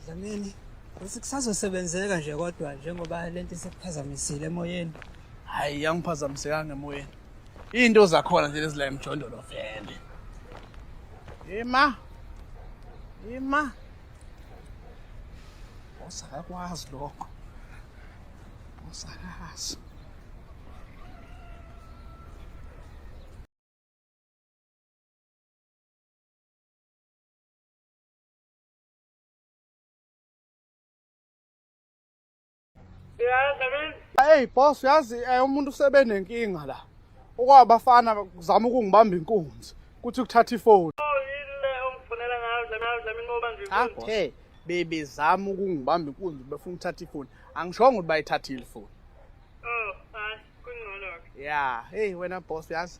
Dlamini, uthi kusazosebenzeka nje kodwa njengoba lento isekuphazamisile emoyeni. Hayi yangiphazamisekanga emoyeni. Into zakhona nje lezila emjondolo vele. Ima. Ima. Usakakwazi lokho. Usakazi. Hey boss uyazi eh, umuntu usebenenkinga la. Okwabafana kuzama ukungibamba inkunzi kuthi ukuthatha ifoni. Ah, hey baby zama ukungibamba inkunzi befuna ukuthatha ifoni. Angishongo ukuthi bayithathile ifoni. Oh, hayi kungcono. Yeah, hey wena boss uyazi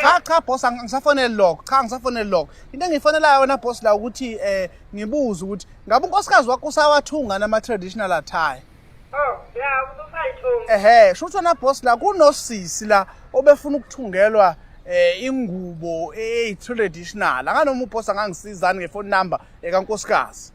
cha cha boss angisafoneli lokho cha angisafoneli lokho into engiyifonelayo wena boss la ukuthi eh ngibuze ukuthi ngabe unkosikazi wakho usawathunga nama traditional attire Oh, yeah, usayithunga. Ehhe, shutho na boss la kunosisi la obefuna ukuthungelwa eh ingubo eh traditional. Akanoma uboss angangisizani ngefone number ekankosikazi.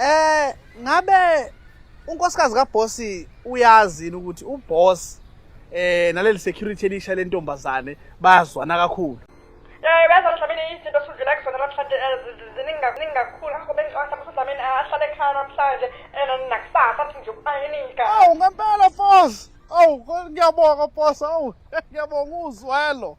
Eh ngabe unkosikazi kabhosi uyazi ukuthi uboss eh naleli security elisha lentombazane bayazwana kakhulu Eh bese mhlawumbe izinto sudlula kuzona namhlanje ziningi kakhulu ngakho bengicwasa ukuthi mhlawumbe ahlale ekhaya namhlanje ena nakusasa athi nje ubayinika. Awu ngempela boss. Awu ngiyabonga boss. Awu ngiyabonga uzwelo.